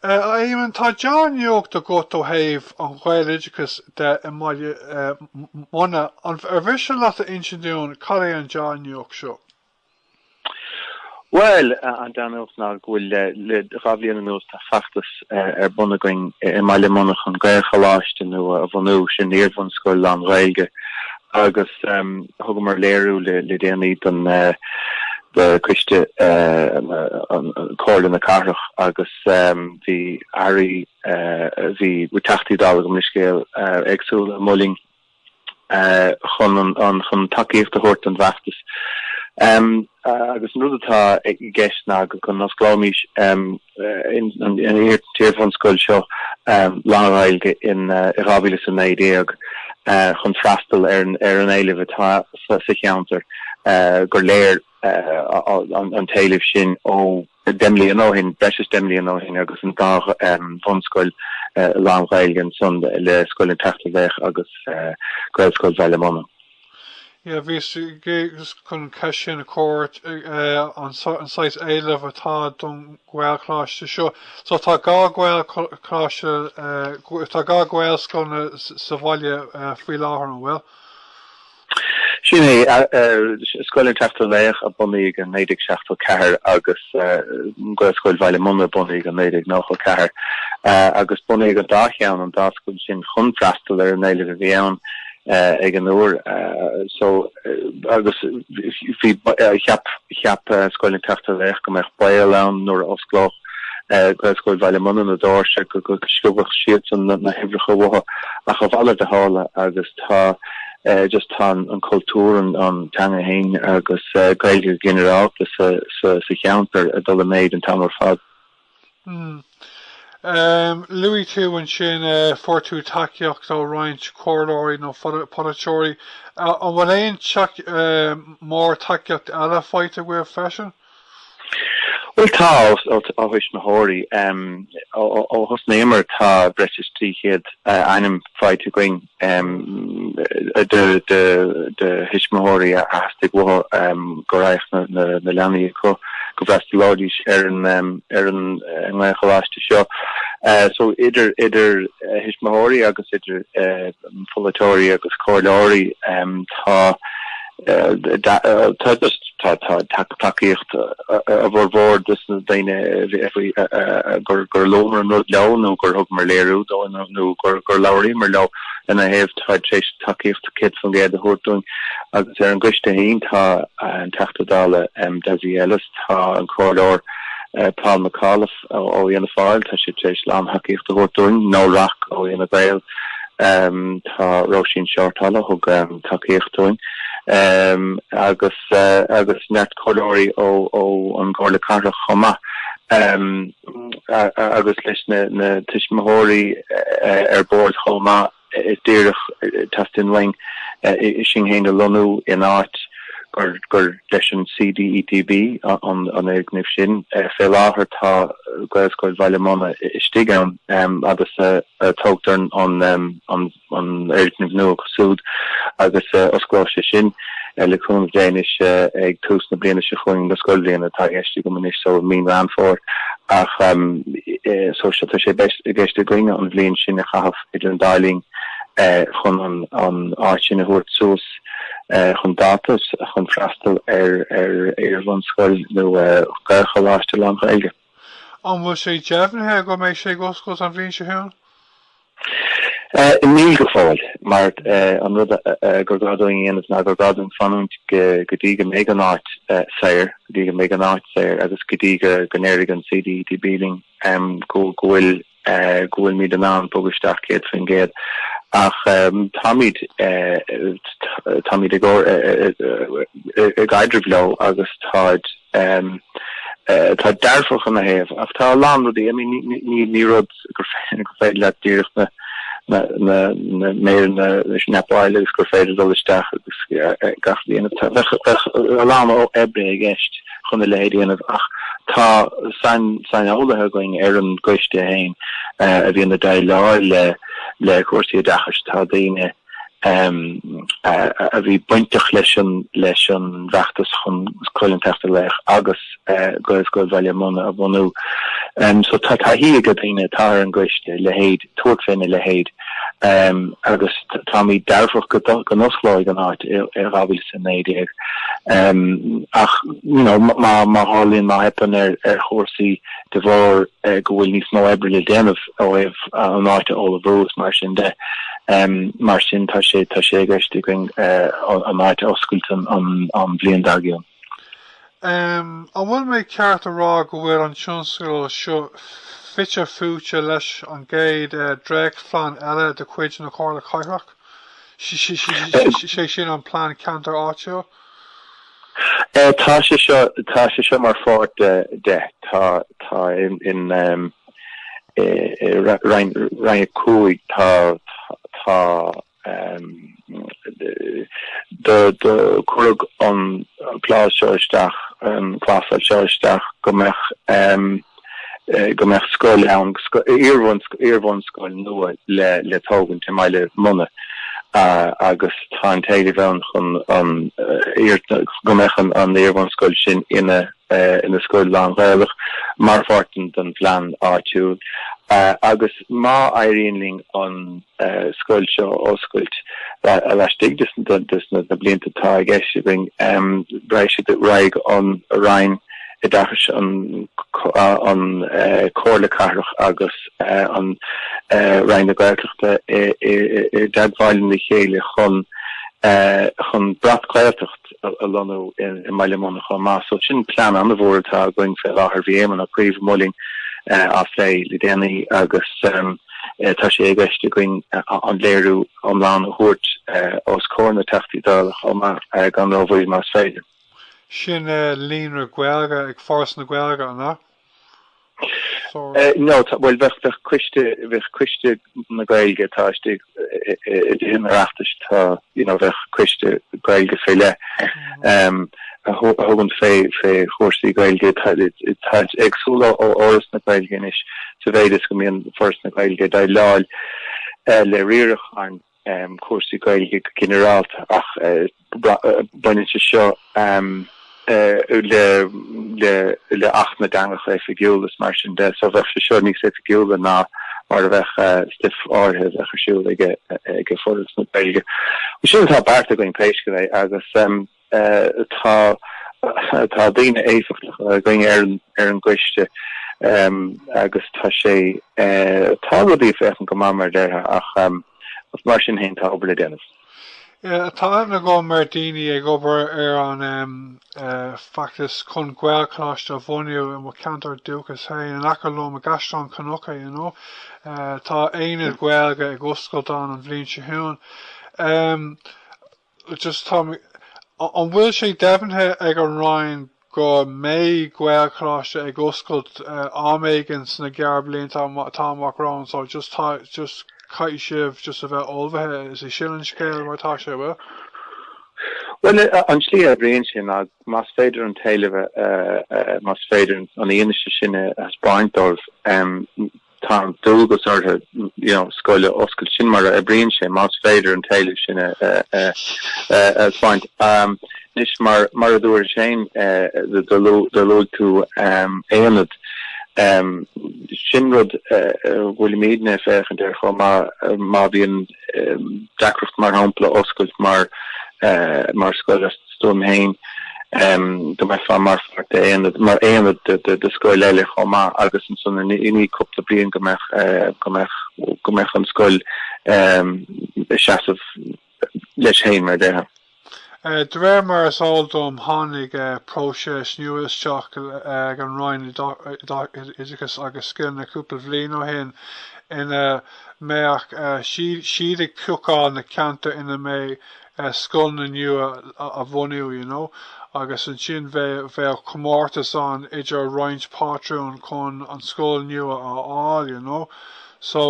A Éamon, tá deá-nuacht agat ó thaobh an Ghaeloideachais de i mBaile Munna. Ar mhiste leat a insint dúinn cad é an deá-nuacht seo? Bhuel, an deá-nuacht ná go bhfuil, le dhá bhliain anuas, tá feachtas ar bun againn i mBaile Munna chun Gael-Choláiste nua a bhunú, sin iarbhunscoil lán-Ghaeilge. agus thugamar léiriú le déanaí don Coiste Comhairle na Cathrach agus bhí Airí, bhí Teachtaí Dála agus baill éagsúla i mBaile Munna chun tacaíocht a thabhairt don bhfeachtas agus an rud atá i gceist ná go n-osclóimís an iar-bhunscoil seo lán-Ghaeilge i 2019 chun freastal ar an éileamh atá sa cheantar gur léir an t-éileamh sin ó deich mbliana ó shin, breis is deich mbliana ó shin agus an dá bhunscoil lán-Ghaeilge ansan le Scoil an tSeachtar Laoch agus Gaelscoil Bhaile Munna. Bhíos chun ceist sin a chur ort, an saghas éilimh atá don Ghaelcholáiste seo. So tá dhá Ghaelcholáiste, tá dhá Ghaelscoileanna sa bhaile faoi láthair, an bhfuil? Sin é, Scoil an tSeachtar Laoch a bunaíodh i 1974 agus Gaelscoil Bhaile Munna a bunaíodh i 1994 agus bunaíodh an dá cheann, an dá scoil sin chun freastal ar an éileamh a bhí ann. ag an uair so agus bhí cheap cheap Scoil an tSeachtar Laoch go mbeadh baol ann nuair a osclódh Gaelscoil Bhaile Munna na doirse go go sciobfadh siadsan na na huimhreacha uathu ach a mhalairt a tharla agus tá just tá an an cultúr an an teanga fhéin agus Gaeilge go ginearálta sa sa sa cheantar ag dul i méid an t-am ar fad. Hm. Em. Luaigh tú ansin eh fuair tú tacaíocht ó roinnt comhairleoirí nó phol polaiteoirí. An an bhfuil aon tac eh mórán tacaíocht eile faighte agaibh freisin? Bhuel tá, os ó ó thuismitheoirí. Em. Ó ó ó thosnaíomar tá breis is trí chéad eh ainm faighte againn. um, de, de, de thuismitheoirí a theastaigh uathu um, go raibh na, na, na leanaí acu go bhfreastalóidís ar an um, ar an eh, nGaelcholáiste seo. Uh, so idir idir uh, thuismitheoirí agus idir uh, pholaiteoirí agus comhairleoirí um, tá Tacaíocht a bhformhór de sna daoine gur luamar an rud leo nó gur thugamar léiriú dóibh nó gur labhraíomar leo ina thaobh táid tar éis tacaíocht 100% a thabhairt dúinn. Agus ar an gcoiste féin tá an Teachta Dála Dessie Ellis, tá an Comhairleoir Paul McAuliffe, ó Fhianna Fáil, tá siad tar éis lán-thacaíocht a thabhairt dúinn, Noel Rock ó Fhine Gael, tá Róisín Shortall a thug tacaíocht dúinn, agus neart comhairleoirí ó an gComhairle Cathrach chomh maith, agus leis na tuismitheoirí ar bord chomh maith. Is díreach, teastaíonn uainn sinn féin a lonnú in áit gur leis an CDETB an fhoirgneamh sin. Fé láthair tá Gaelscoil Bhaile Munna istigh ann agus tógtar an fhoirgneamh nua acu súd agus osclóidh sé sin, le cúnamh Dé anois, ag tús na bliana seo chugainn, na scoilbhliana atá i gceist agam anois, so mí Mheán Fómhair. Ach, so tá sé i gceist againn an bhliain sin a chaitheamh, idir an dá linn, chun an áit sin a thabhairt suas chun dáta chun freastal ar iarbhunscoil nó Gaelcholáiste lán-Ghaeilge. An bhfuil sé deimhnithe go mbeidh sé ag oscailt an bhliain seo chugainn? Níl go fóill, mar an rud gur gá dúinn a dhéanamh ná gur gá dúinn fanúint go dtí go mbeidh an áit saor, go dtí go mbeidh an áit saor agus go dtí go ndéarfaidh an CDETB linn go bhfuil, go bhfuilimid in ann bogadh isteach 100%, ach táimid táimid ag obair i gcaidreamh leo agus táid táid dearfach ina thaobh ach tá a lán rudaí I mean ní ní rud gur féidir leat díreach na na na na méireanna a snapáil agus gur féidir dul isteach agus gach bliana tá a lán oibre i gceist chun a leithéid a dhéanamh ach tá saineolaithe againn ar an gcoiste féin a bhíonn ag déileáil le le cúrsaí oideachais, tá daoine a bhí bainteach leis an leis an bhfeachtas chun Scoil an tSeachtar Laoch agus Gaelscoil Bhaile Munna a bhunú. So tá taithí ag daoine atá ar an gcoiste leithéid tabhairt faoina leithéid agus táimíd dearfach go n-osclóidh an áit i 2019 ach you know má tharlaíonn má theipeann ar chúrsaí de bharr go bhfuil níos mó oibre le déanamh ó thaobh an áit a ullmhú is mar sin de mar sin tá sé tá sé i gceist againn an áit a oscailt an bhliain dar gcionn. Um, an bhfuil mé ceart a rá go bhfuil an tionscadal seo fite fuaite leis an gcéad dréachtphlean eile de chuid na Comhairle Cathrach, sé sin an Plean Ceantair Áitiúil? Tá sé seo, tá sé seo mar pháirt de, de, tá, tá in, in um, eh, eh, roinn, roinn a cúig, tá, tá, tá Do cuireadh an clás seo isteach, an clásal seo isteach go mbeadh go mbeadh scoil ann, iarbhunscoil nua le tógaint i mBaile Munna agus tá an t-éileamh ann chun an, go mbeadh an iarbhunscoil sin ina scoil lán-Ghaelach mar pháirt den phlean áitiúil agus má éiríonn linn an. scoil seo a oscailt laistigh de na blianta atá i gceist againn. Raghaidh siad raghaidh an Roinn Oideachais, an Comhairle Cathrach agus an Roinn na Gaeltachta i dteagmháil le chéile chun chun breac-Ghaeltacht, a lonnú i mBaile Munna chomh maith. So sin plean an-mhór atá againn fé láthair. Bhí Éamon Ó Cuív amuigh linn á phlé le déanaí agus tá sé i gceist againn an léiriú iomlán a thabhairt os comhair na dTeachtaí Dála chomh maith gan rómhoill más féidir. An é sin Líonra Gaeilge ag Foras na Gaeilge, an ea? No, tá, bhuel bheadh, bheadh coiste, bheadh coiste na Gaeilge, tá istigh i dTithe an Oireachtais, tá, you know, bheadh coiste Gaeilge faoi leith ehm a thugann fé, fé chúrsaí Gaeilge, tá, tá éagsúil ó, ó Fhoras na Gaeilge anois sa mhéid is go mbíonn Foras na Gaeilge ag déileáil eh le riaracháin. um chúrsaí Gaeilge go ginearálta ach baineann sé seo um le le le Acht na dTeangacha Oifigiúla is mar sin de so bheadh sé seo níos oifigiúla ná mar a bheadh stuif áirithe a bheadh ar siúl ag ag Foras na Gaeilge. Sin atá beartaithe againn pé scéal é agus um Tá daoine éifeachtacha againn ar an gcoiste agus tá sé, tá rudaí ag féachaint go maith mar a déarfá ach mar sin fhéin tá obair le déanamh. Tá aithne agam ar dhaoine ag obair ar an bhfeachtas chun Gaelcholáiste a bhunú i mo cheantar dúchais fhéin, in aice liom i gCaisleán Cnucha, you know. Tá aonad Gaeilge ag oscailt ann an bhliain seo chugainn. just tá mé. An bhfuil sé deimhnithe ag an Roinn go mbeidh Gaelcholáiste ag oscailt am éigin sna gearrbhlianta atá amach romhainn so just tá just caithfidh sibh just a bheith ullmhaithe is é sin an scéal mar atá sé, bhfuil? Bhuel an tslí a oibríonn sé ná más féidir an t-éileamh a más féidir an fhianaise sin a thaispeáint dóibh, Tá an dualgas ortha scoil a oscailt. Sin mar a oibríonn sé, más féidir an t-éileamh sin a thaispeáint. Anois, mar a dúirt Shane, do luaigh tú aonad. Sin rud a bhfuilimid ag féachaint air chomh maith. Má bhíonn. deacracht mar shampla oscailt mar mar scoil astu féin go mbeifeá mar pháirt de aonad mar aonad de de scoil eile chomh maith agus ansan i i ndiaidh cúpla bliain go mbeadh go mbeadh go mbeadh an scoil ag seasamh léi féin mar a déarfá. De réir mar is eol dom tháinig próiseas nua isteach ag an Roinn Oideachais agus Scileanna cúpla bhliain ó shin ina mbeadh siad ag piocháil na ceantair ina mbeidh scoileanna nua á bhunú you know agus ansin bheadh comórtas ann idir roinnt pátrún chun an scoil nua a fháil you know so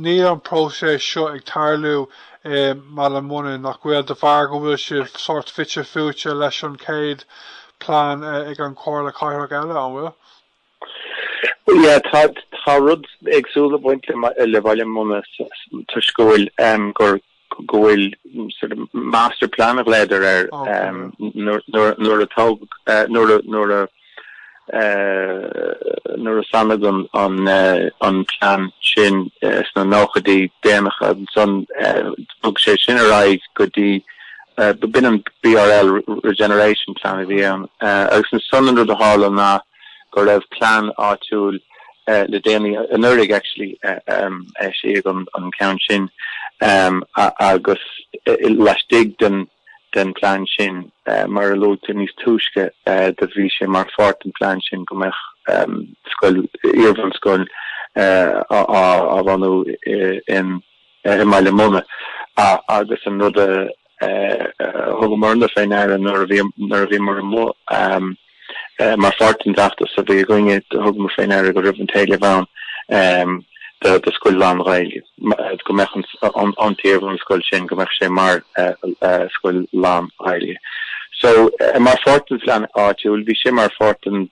níl an próiseas seo ag tarlú i mBaile Munna nach bhfuil de bharr go bhfuil sibh sórt fite fuaite leis an chéad plean ag an Chomhairle Cathrach é, an bhfuil? Yeah, tá tá rud éagsúil ag baint le le Baile Munna toisc go bhfuil um, gur go bhfuil sort of master plan i gceist leis nuair a tug nuair a nuair a socraíodh an plean sin sna nóchaidí déanacha ansan bhog sé sin ar aghaidh go dtí b'in an BRL Regeneration Plan a bhí ann agus ansan an rud a tharla ná go raibh plean áitiúil le déanaí anuraidh actually a eisíodh an ceann sin agus laistigh den. den phlean sin. Mar a luas níos túisce do bhí sé mar pháirt den phlean sin go mbeadh scoil, iarbhunscoil á bhunú i mBaile Munna agus an rud a thugamar-na fé ndeara nuair a bhíomar amuigh, Mar pháirt den bhfeachtas a bhí againne thugamar fé ndeara go raibh an t-éileamh ann do scoil lán-Ghaeilge, go mbeadh an iarbhunscoil sin, go mbeadh sé mar scoil lán-Ghaeilge. So mar pháirt den phlean áitiúil, bhí sé mar pháirt den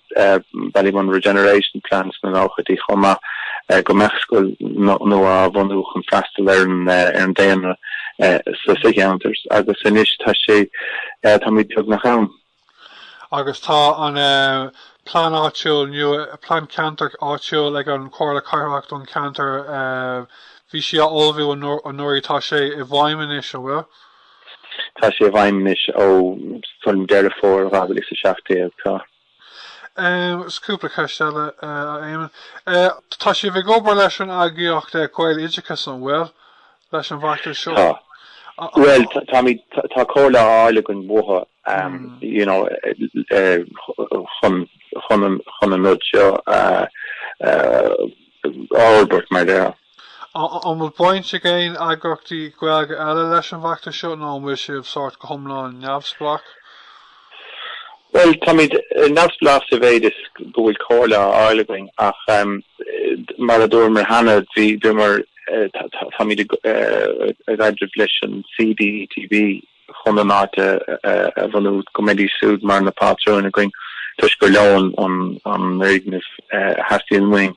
Ballymun Regeneration Plan sna nóchaidí chomh maith go mbeadh scoil nua á bhunú chun freastal ar an daonra sa cheantar agus anois tá sé, táimid beagnach ann. agus tá an Plean Áitiúil nua, Plean Ceantair Áitiúil ag an Chomhairle Cathrach don cheantar bhí sí á ullmhú anuraidh, tá sé i bhfeidhm anois, an bhfuil? Tá sé i bhfeidhm anois ó shin Deireadh Fómhair 2017, tá. Is cúpla ceist eile, a Éamonn. Tá sibh ag obair leis an eagraíocht Gaeloideachas, an bhfuil? leis an bhfeachtas seo? Tá. Bhuel, táimid, tá comhairle á fháil againn uathu, you know, chun, chun an, chun an rud seo a fhorbairt, mar déarfá. An bhfuil baint ag aon eagraíochtaí Gaeilge eile leis an bhfeachtas seo nó an bhfuil sibh sórt go hiomlán neamhspleách? Bhuel, táimíd neamhspleách sa mhéid is go bhfuil comhairle á fháil againn ach mar a dúramar cheana, bhíomar, táimíd i gcaidreamh leis an CDTB chun an áit a bhunú go mbeidís súd mar na pátrúin againn toisc gur leo an foirgneamh a theastaíonn uainn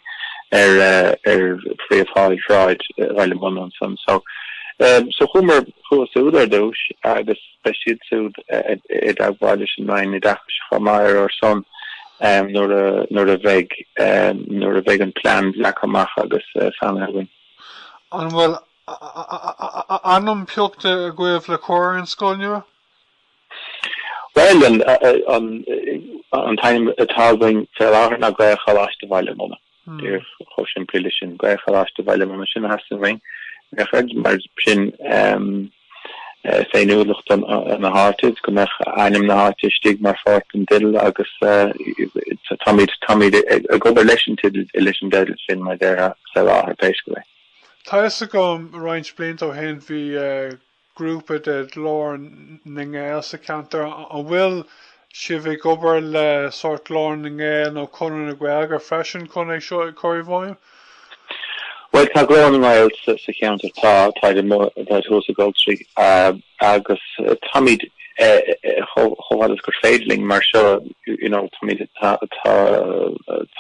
ar Phríomhshráid Bhaile Munna ansan. So, chuamar chucu súd ar dtúis agus. Beidh siad siúd i dteagmháil leis an Roinn Oideachais chomh maith ar ár son nuair a bheidh nuair a bheidh an plean leagtha amach agus sainithe againn. An bhfuil ainm piocta agaibh le cur ar an scoil nua? Bhuel, an t-ainm atá againn fé láthair ná Gael-Choláiste Bhaile Munna. Díreach chomh simplí leis sin. Gaelcholáiste Bhaile Munna, sin a theastaíonn uainn, ar scáth, mar sin féiniúlacht don na háite is go mbeadh ainm na háite istigh mar pháirt den dteideal agus táimíd, táimíd ag obair leis an teideal, leis an dteideal sin mar déarfá sa láthair pé scéal é. Tá a fhios agam roinnt blianta ó shin bhí grúpa de Ghlór na nGael sa cheantar, an bhfuil sibh ag obair le sórt Glór na nGael nó Conradh na Gaeilge freisin chun é seo a chur i bhfeidhm? Bhuel tá Glór na nGael sa cheantar, tá, táid amuigh, táid thuas i gColtraí agus táimid chomh fada is gur féidir linn mar seo, you know, táimid, tá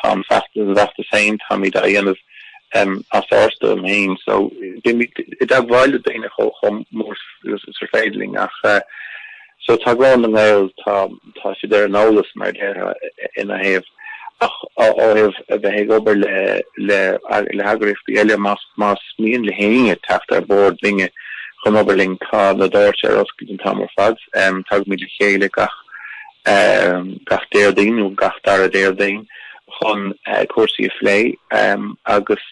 an feachtas, an feachtas féin, táimid á dhéanamh. as ár stuaim fhéin so bímíd i dteagmháil le daoine chomh mór is ar féidir linn ach so tá Glór na nGael tá tá siad ar an eolas mar a déarfá ina thaobh ach ó thaobh a bheith ag obair le le le heagraíochtaí eile más más mian le héinne teacht ar bord linne chun obair linn tá na doirse ar oscailt an t-am ar fad tagaimíd le chéile gach gach Déardaoin nó gach dara Déardaoin chun cúrsaí a phlé agus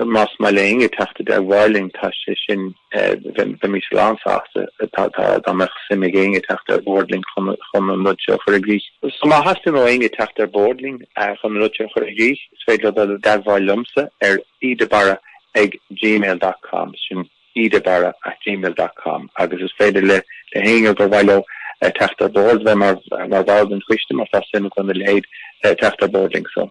más maith le héinne teacht i dteagmháil linn tá sé sin, bheimís lán sásta dá mbeadh suim ag éinne teacht ar bhórd linn chun an rud seo a chur i gcrích. So má theastaíonn ó éinne teacht ar bhórd linn chun an rud seo a chur i gcrích is féidir leo dul i dteagmháil liomsa ar e. de Barra ag gmail dot com. Sin. Cedarbarra at gmail dot com agus is féidir le héinne gur mhaith leo teacht ar bord bheith mar bhall den choiste má tá suim acu ina leithéid teacht ar bord linn. So.